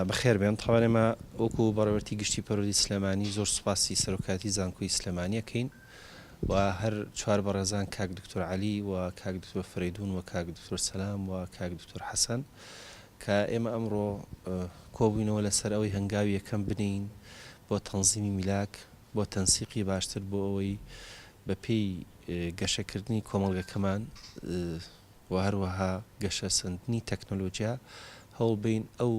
بەخێربێن تەوان ئێمە وەکو بەڕێوەرتی گشتی پەروەردەی سلێمانی زۆر سوپاسی سەرۆکایەتی زانکۆی سلێمانی ئەکەین و هەر چوار بەڕێزان کاک دکتۆر عەلی و کاک دکتۆر فریدون و کاک دکتۆر سەلام و کاک دکتۆر حەسەن کە ئێمە ئەمڕۆ کۆبووینەوە لەسەر ئەوەی هەنگاوی یەکەم بنێین بۆ تەنزیمی میلاک بۆ تەنسیقی باشتر بۆ ئەوەی بە پێی گەشەکردنی کۆمەڵگەکەمان و هەروەها گەشەسەندنی تەکنەلۆجیا هەوڵ بەین ئەو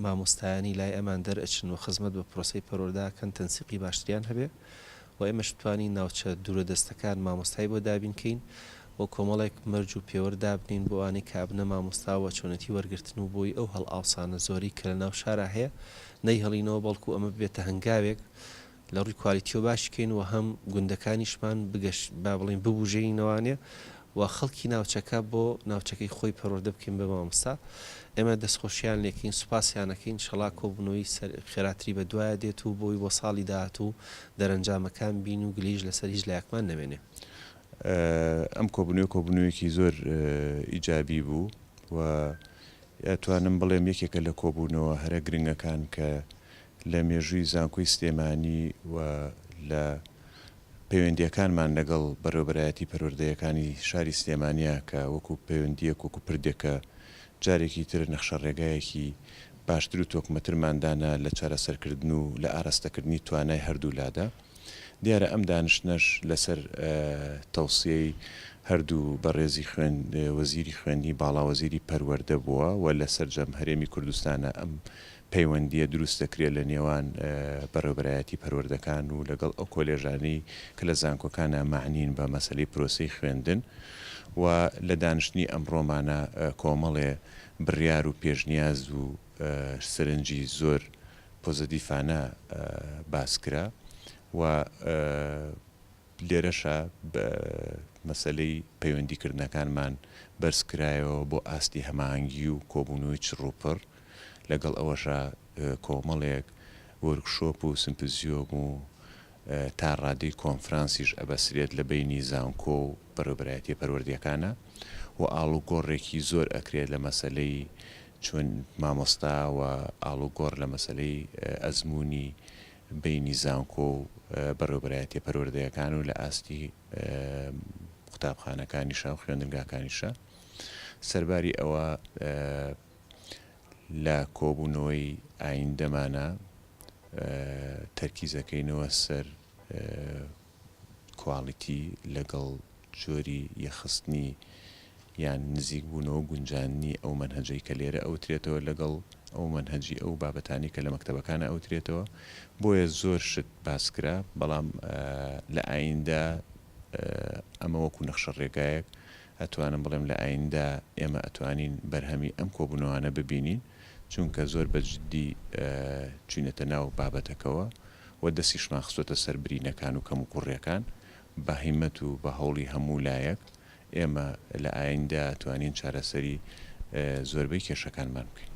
مامۆستایانی لای ئەمان دەرئەچن و خزمەت بە پرۆسەی پەروەردە ئەکەن تەنسیقی باشتریان هەبێ و ئێمەش بتوانین ناوچە دوورە دەستەکان مامۆستای بۆ دابین کەین و کۆمەڵێک مەرج و پێوەر دابنێین بۆ ئەوانەی کە ئەبنە مامۆستا و چۆنێتی وەرگرتن و بۆی ئەو هەڵئاوسانە زۆرەی کە لە ناو شارا هەیە نەیهڵینەوە بەڵکو ئەمە ببێتە هەنگاوێک لە ڕووی کوالیتیەوە باش کەین و هەم گوندەکانیشمان بگەش با بڵێین ببوژێنینەوانێ و خەڵکی ناوچەکە بۆ ناوچەکەی خۆی پەروەردە بکەین بە مامۆستا ئێمە دەستخۆشیان لێکەین سوپاسیان ئەکەین شەڵا کۆبونەوەی سەر خێراتری بە دوایە دێت و بۆی بۆ ساڵی داهاتوو دەرەنجامەکان بین و گلەیش لەسەر هیچ لایەکمان نەمێنێ. ئەم کۆبونەوەیە کۆبونەوەیەکی زۆر ئیجابی بوو و ئەتوانم بڵێم یەکێکە لە کۆبونەوە هەرە گرنگەکان کە لە مێژووی زانکۆی سلێمانی و لە پەیوەندییەکانمان لەگەڵ بەڕێوەبەرایەتی پەروەردەیەکانی شاری سلێمانییە کە وەکو پەیوەندییەک وەکو پردێک کە جارێکی تر نەخشەڕێگایەکی باشتر و تۆکمەترمان دانا لە چارەسەرکردن و لە ئاراستەکردنی توانای هەردوو لادا دیارە ئەم دانشتنەش لەسەر تەوسیەی هەردوو بەڕێزی خوێن وەزیری خوێندنی باڵا وەزیری پەروەردە بووە و لە سەرجەم هەرێمی کوردستانە ئەم پەیوەندییە دروست دەکرێت لە نێوان بەڕێوەبەرایەتی پەروەردەکان و لەگەڵ ئەو کۆلێژانەی کە لە زانکۆکانا مەعنین بە مەسەلەی پرۆسەی خوێندن و لە دانیشتنی ئەمڕۆمانا کۆمەڵێ بڕیار و پێشنیاز و سەرنجی زۆر پۆزەدیفانە باس کرا و لێرەشە مەسەلەی پەیوەندیکردنەکانمان بەرزکرایەوە بۆ ئاستی هەماهەنگی و کۆبوونەوەی چڕوپڕ، لەگەڵ ئەوەشا کۆمەڵێک وۆرکشۆپ و سمپزیۆم و تا ڕادەی کۆنفرانسیش ئەبەسرێت لە بەینی زانکۆ و بەڕێوەبەرایەتیە پەروەردەکانە و ئاڵوگۆڕێکی زۆر ئەکرێت لە مەسەلەی چۆن مامۆستا و ئاڵوگۆڕ لە مەسەلەی ئەزموونی بەینی زانکۆ و بەڕێوەبەرایەتیە پەروەردەیەکان و لە ئاستی قوتابخانەکانیشە و خوێندنگاکانیشە سەرباری ئەوە لە کۆبوونەوەی ئایندەمانە تەرکیزەکەینەوە سەر کوالیتی لەگەڵ جۆری یەخستنی یان نزیک بوونەوە گونجاندنی ئەو مەنهەجەی کە لێرە ئەوترێتەوە لەگەڵ ئەو مەنهەجی ئەو بابەتانەی کە لە مەکتەبەکان ئەوترێتەوە بۆیە زۆر شت باس کرا بەڵام لە ئایندە ئەمە وەکو نەخشە ڕێگایەک ئەتوانم بڵێم لە ئایندە ئێمە ئەتوانین بەرهەمی ئەم کۆبوونەوانە ببینین. چونکە زۆر بە جدی چوینەتە ناو بابەتەکەوە و دەستیشمان خستۆتە سەر برینەکان و کەموکوڕیەکان، بە هیمەت و بە هەوڵی هەموو لایەک ئێمە لە ئایندە توانین چارەسەری زۆربەی کێشەکانمان بکەین.